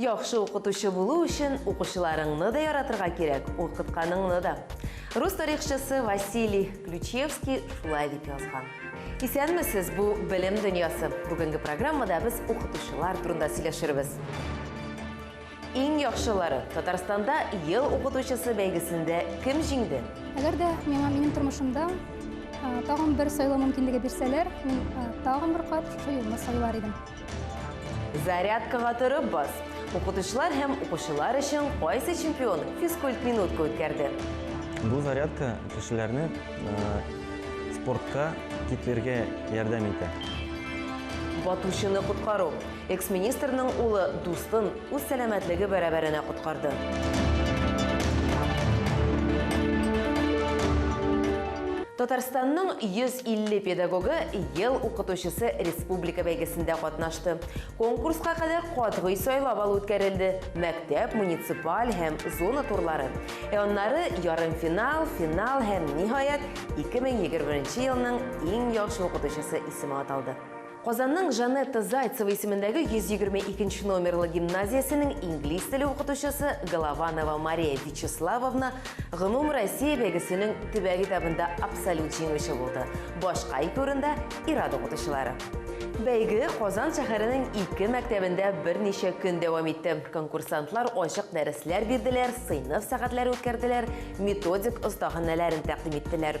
Яхшы укытучы булу өчен укучыларыңны да яратырга кирәк, укытканыңны да. Рус тарихчысы Василий Ключевский шулай дип язган. Исәнмесез, бу белем дөньясы. Бүгенге программада без укытучылар турында сөйләшербез. Иң яхшылары Татарстанда ел укытучысы бәйгесендә кем җиңде? Әгәр дә миңа минем тормышымда тагын бер сайлау мөмкинлеге бирсәләр, мин тагын бер кат шушы юлны сайлар идем. Зарядкага торып бас. Укытучылар һәм укучылар өчен кайсы чемпион физкульт минутка үткәрде? Бу зарядка кешеләрне спортка китлергә ярдәм итә. Батучыны коткару. Экс-министрның улы дустын үз сәламәтлеге бәрабәренә коткарды. Татарстанның 150 педагогы ел укытучысы республика бәйгесендә катнашты. Конкурска кадәр катгый сайлап алу үткәрелде. Мәктәп, муниципаль һәм зона турлары. Ә аннары ярымфинал, финал һәм ниһаять 2021 елның иң яхшы укытучысы исеме аталды. Казанның Жанетта Зайцева исемендәге 122 нче номерлы гимназиясенең инглиз теле укытучысы Голованова Мария Вячеславовна Гомум Россия бәйгесенең төбәк этабында абсолют җиңүче булды. Башка ике урында ир-ат укытучылары. Бәйге Казан шәһәренең ике мәктәбендә берничә көн дәвам итте. Конкурсантлар ачык дәресләр бирделәр, сыйныф сәгатьләре үткәрделәр, методик остаханәләрен тәкъдим иттеләр.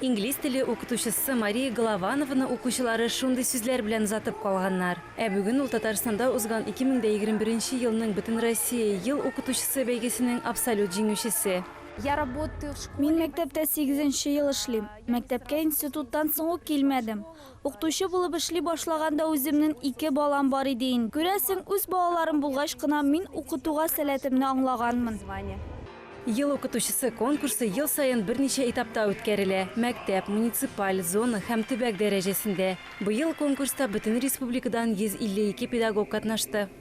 Инглиз теле укытучысы Мария Голованованы укучылары шундый сүзләр белән озатып калганнар. Ә бүген ул Татарстанда узган 2021 елның Бөтенроссия ел укытучысы бәйгесенең абсолют җиңүчесе. Мин мәктәптә сигезенче ел эшлим. Мәктәпкә институттан соң ук килмәдем. Укытучы булып эшли башлаганда үземнен ике балам бар иде ин. Күрәсең, үз балаларым булгач кына мин укытуга сәләтемне аңлаганмын. Ел укытучысы конкурсы ел саен берничә этапта үткәрелә, мәктәп, муниципаль, зона һәм төбәк дәрәҗәсендә. Быел конкурста бөтен республикадан 152 педагог катнашты.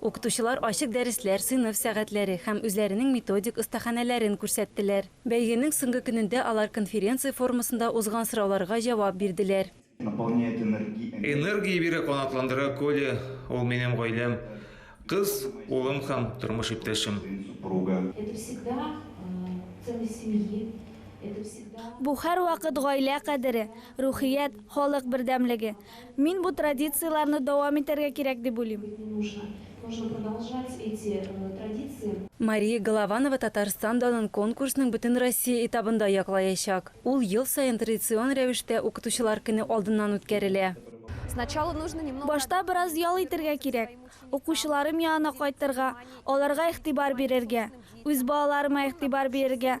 Укытучылар ачык дәресләр, сыйныф сәгатьләре һәм үзләренең методик остаханәләрен күрсәттеләр. Бәйгенең соңгы көнендә алар конференция формасында узган сорауларга җавап бирделәр. Энергия бирә, канатландыра Коля, ул минем гаиләм, кыз, улым һәм тормыш иптәшем. Бу һәрвакыт гаилә кадере, рухият, халык бердәмлеге. Мин бу традицияләрне дәвам итәргә кирәк дип уйлыйм. Мария Голованова Татарстан данын конкурсның Бөтенроссия этабында яклаячак. Ул ел саен традицион рәвештә Укытучылар көне алдыннан үткәрелә. Башта бераз ял итәргә кирәк. Укучыларым янына кайтырга, аларга игътибар бирергә, үз балаларыма игътибар бирергә,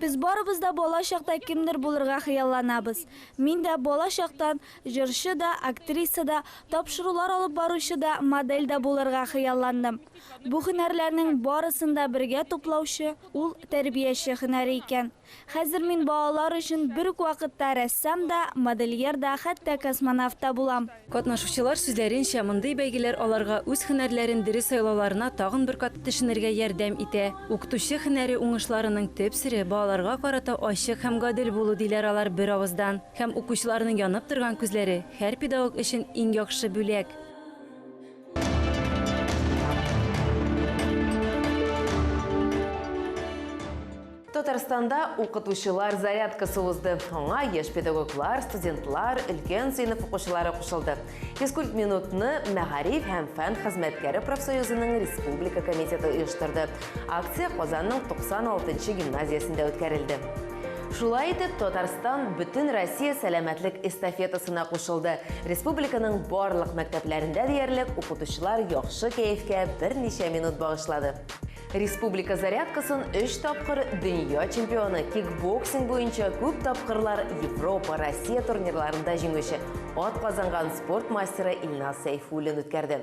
Без барыбыз да бала чакта кемдер булырга хыялланабыз. Мин дә бала чактан җырчы да, актриса да, тапшырулар алып баручы да, модель дә булырга хыялландым. Бу һөнәрләрнең барысын да бергә туплаучы ул тәрбияче һөнәре икән. Хәзер мин балалар өчен бер үк вакытта рәссам да, модельер да, хәтта космонавт та булам. Катнашучылар сүзләренчә, мондый бәйгеләр аларга үз һөнәрләрен дөрес сайлауларына тагын бер кат төшенергә ярдәм итә. Укытучы һөнәре уңышларының төп сере, балаларга карата ачык һәм гадел булу, диләр алар беравыздан. Һәм укучыларның янып торган күзләре, һәр педагог өчен иң яхшы бүләк. Татарстанда укытучылар зарядкасы узды. Аңа яшь педагоглар, студентлар, өлкән сыйныф укучылары кушылды. Физкульт минутны мәгариф һәм фән хезмәткәре профсоюзының республика комитеты оештырды. Акция Казанның 96 нчы гимназиясендә үткәрелде. Шулай итеп, Татарстан бөтен Россия сәламәтлек эстафетасына кушылды. Республиканың барлык мәктәпләрендә диярлек укытучылар яхшы кәефкә берничә минут багышлады. Республика зарядкасын өч тапкыр дөнья чемпионы, кикбоксинг буенча күп тапкырлар Европа, Россия турнирларында җиңүче, ат казанган спорт мастеры Илназ Сәйфуллин үткәрде.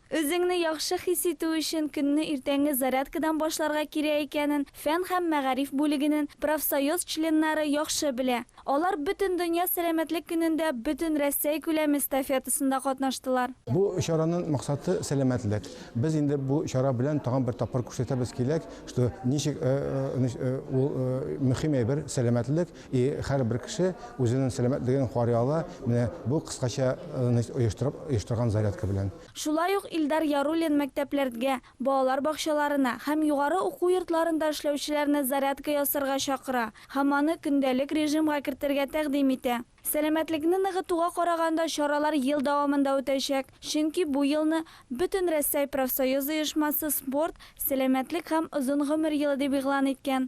Үзеңне яхшы хис итү өчен көнне иртәнге зарядкадан башларга кирәк икәнен фән һәм мәгариф бүлегенен профсоюз членнары яхшы белә. Алар Бөтендөнья сәламәтлек көнендә бөтенрәссәй күләме эстафетасында катнаштылар. Бу чаранын максаты сәламәтлек. Без инде бу чара белән тагын бер тапкыр күрсәтәбез киләк, что ничек ул мөһим әйбер сәламәтлек. И һәрбер кеше үзенен сәламәтлеген карый ала менә бу кыскача значит оештырып оештырган зарядка белән. Шулай ук Илдар Яруллин мәктәпләрдгә, балалар бакчаларына һәм югары уку йортларында эшләүчеләрне зарядка ясарга чакыра һәм аны көндәлек режимга кертергә тәкъдим итә. Сәламәтлекне ныгытуга караганда чаралар ел дәвамында үтәчәк, чөнки бу елны Бөтенрәссәй профсоюз оешмасы спорт, сәламәтлек һәм озын гомер елы дип игълан иткән.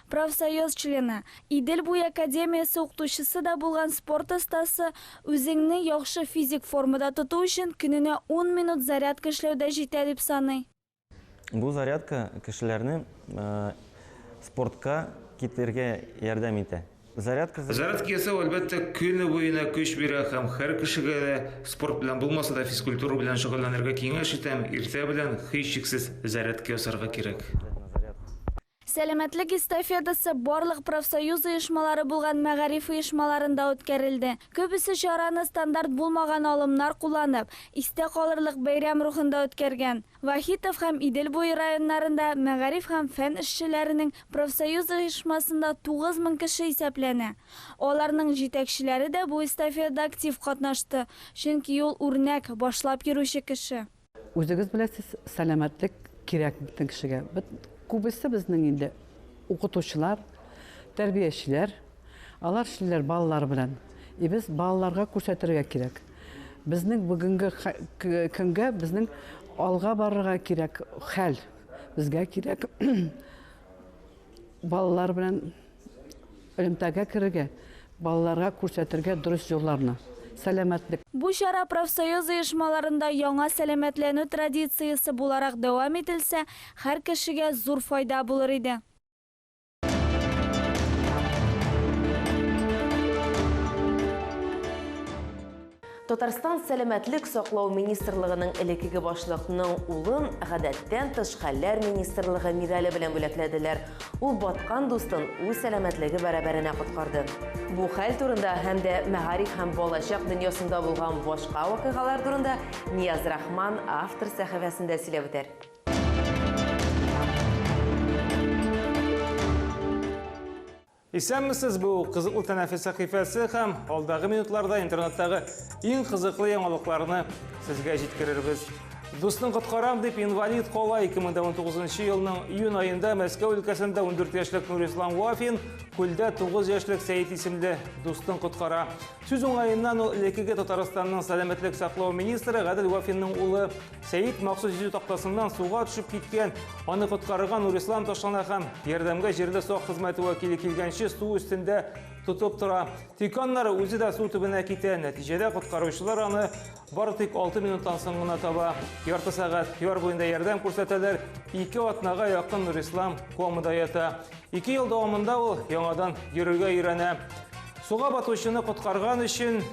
Профсоюз члены, Идел буе академиясе укытучысы да булган спорт остасы үзеңне яхшы физик формада тоту өчен көненә ун минут зарядка эшләү дә җитә дип саный. Бу зарядка кешеләрне спортка китергә ярдәм итә. Зарядка. Зарядка ясау, әлбәттә, көне буена көч бирә һәм һәр кешегә дә, спорт белән булмаса да, физкультура белән шөгыльләнергә киңәш итәм, иртә белән, һичшиксез, зарядка ясарга кирәк. Сәламәтлек эстафетасы барлык профсоюз оешмалары булган мәгариф оешмаларында үткәрелде. Күбесе чараны стандарт булмаган алымнар кулланып, истә калырлык бәйрәм рухында үткәргән. Вахитов һәм Идел буе районнарында мәгариф һәм фән эшчеләренең профсоюз оешмасында 9 мең кеше исәпләнә. Аларның җитәкчеләре дә бу эстафетада актив катнашты, чөнки ул үрнәк, башлап йөрүче кеше. Үзегез беләсез, сәламәтлек кирәк бөтен кешегә. Бит күбесе безнең инде укытучылар, тәрбиячеләр. Алар эшлиләр балалар белән. И без балаларга күрсәтергә кирәк. Безнең бүгенге көнгә безнең алга барырга кирәк хәл. Безгә кирәк балалар белән Элемтәгә керергә, балаларга күрсәтергә дөрес юлларны. Сәламәтлек. Бу чара профсоюз оешмаларында яңа сәламәтләнү традициясе буларак дәвам ителсә, һәр кешегә зур файда булыр иде. Татарстан сәламәтлек саклау министрлыгының элекеге башлыкның улын гадәттән тыш хәлләр министрлыгы медале белән бүләкләделәр. Ул баткан дустын үз сәламәтлеге бәрабәренә коткарды. Бу хәл турында һәм дә мәгариф һәм балачак дөньясында булган башка вакыйгалар турында Нияз Рахман автор сәхифәсендә сөйләп үтәр. Исәнмесез, бу кызыклы тәнәфес сәхифәсе һәм алдагы минутларда интернеттагы иң кызыклы яңалыкларны сезгә җиткерербез. Дусны коткарам дип инвалид кала 2019 елның июнь аенда Мәскәү өлкәсендә 14 яшьлек Нурислам Вафин күлдә 9 яшьлек Сәет исемле дустын коткара. Сүз уңаеннан ул элеккеге Татарстанның сәламәтлек саклау министры Гадел Вафинның улы Сәет махсус йөзү тактасыннан суга төшеп киткән, аны коткарырга Нурислам ташлана һәм ярдәмгә җирле сак хезмәте вәкиле килгәнче су өстендә тотып тора. Тик аннары үзе дә су төбенә китә. Нәтиҗәдә коткаручылар аны бары тик 6 минуттан соң гына таба. Ярты сәгать яр буенда ярдәм күрсәтәләр. Ике атнага якын Нурислам комада ята. Ике ел дәвамында ул яңадан йөрергә өйрәнә. Суга батучыны коткарган өчен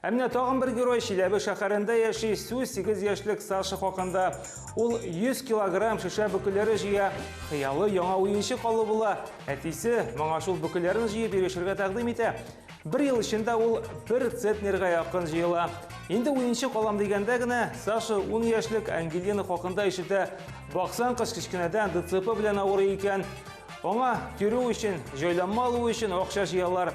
Ә менә тагын бер герой Чиләбе шәһәрендә яши, сүз 8 яшьлек Саша хакында. Ул 100 килограмм шешә бөкеләре җыя, хыялы яңа уенчык алу була. Әтисе моңа шул бөкеләрен җыеп йөрешергә тәкъдим итә. Бер ел эчендә ул бер центнерга якын җыела. Инде уенчык алам дигәндә генә Саша 10 яшьлек Ангелина хакында ишетә. Баксан кыз кечкенәдән ДЦП белән авырый икән. Аңа йөрү өчен, җайланма алу өчен акча җыялар.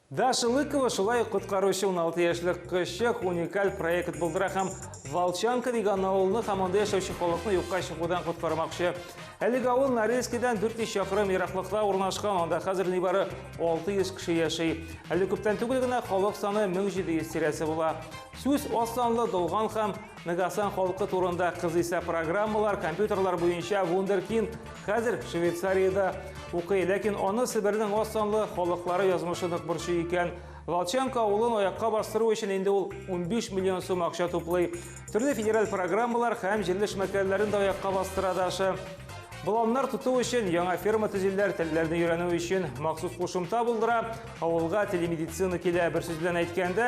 Даша Лыкова шулай ук коткаручы 16 яшьлек кызчык уникаль проект булдыра һәм Волчанка дигән авылны һәм анда яшәүче халыкны юкка чыгудан коткармакчы. Әлеге авыл Норильскидан 400 чакрым ераклыкта урнашкан, анда хәзер нибары 600 кеше яши. Әле күптән түгел генә халык саны 1700 тирәсе була. Сүз аз санлы, долган һәм Нагасан халкы турында кызыйса программалар, компьютерлар буенча Вундеркинд хәзер Швейцариядә укый, ләкин аны Себернең аз санлы халыклары язмышы нык борчу икән. Волчанка авылын аякка бастыру өчен инде ул 15 миллион сум акча туплый. Төрле федераль программалар һәм җирле эшмәкәрләрен дә аякка бастыра Даша. Боланнар тоту өчен яңа ферма төзиләр, телләрне өйрәнү өчен махсус кушымта булдыра, авылга телемедицина килә. Бер сүз белән әйткәндә,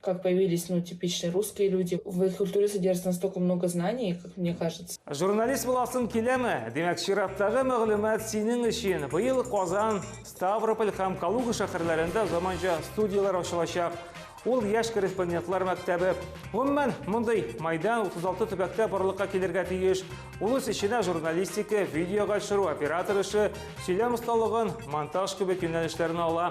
Как появились ну типичные русские люди. В их культуре содержится настолько много знаний, как мне кажется. Журналист буласың киләме? Димәк, чираттагы мәгълүмат синең өчен. Быел Казан, Ставрополь һәм Калуга шәһәрләрендә заманча студияләр ачылачак. Ул яшь корреспондентлар мәктәбе. Гомумән, мондый майдан 36 төбәктә барлыкка килергә тиеш. Ул үз эченә журналистика, видеога төшерү, оператор эше, сөйләм осталыгын, монтаж кебек юнәлешләрне ала.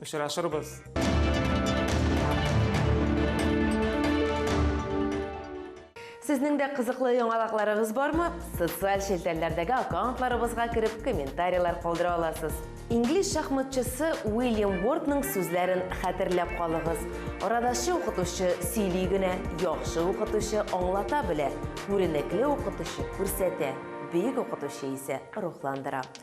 Очрашырбыз! Сезнең дә кызыклы яңалыкларыгыз бармы? Социаль челтәрләрдәге аккаунтларыбызга кереп комментарийлар калдыра аласыз. Инглиз шахматчысы Уильям Уортның сүзләрен хәтерләп калыгыз. Арадашчы укытучы сөйли генә, яхшы укытучы аңлата белә, күренекле укытучы күрсәтә, бөек укытучы исә рухландыра.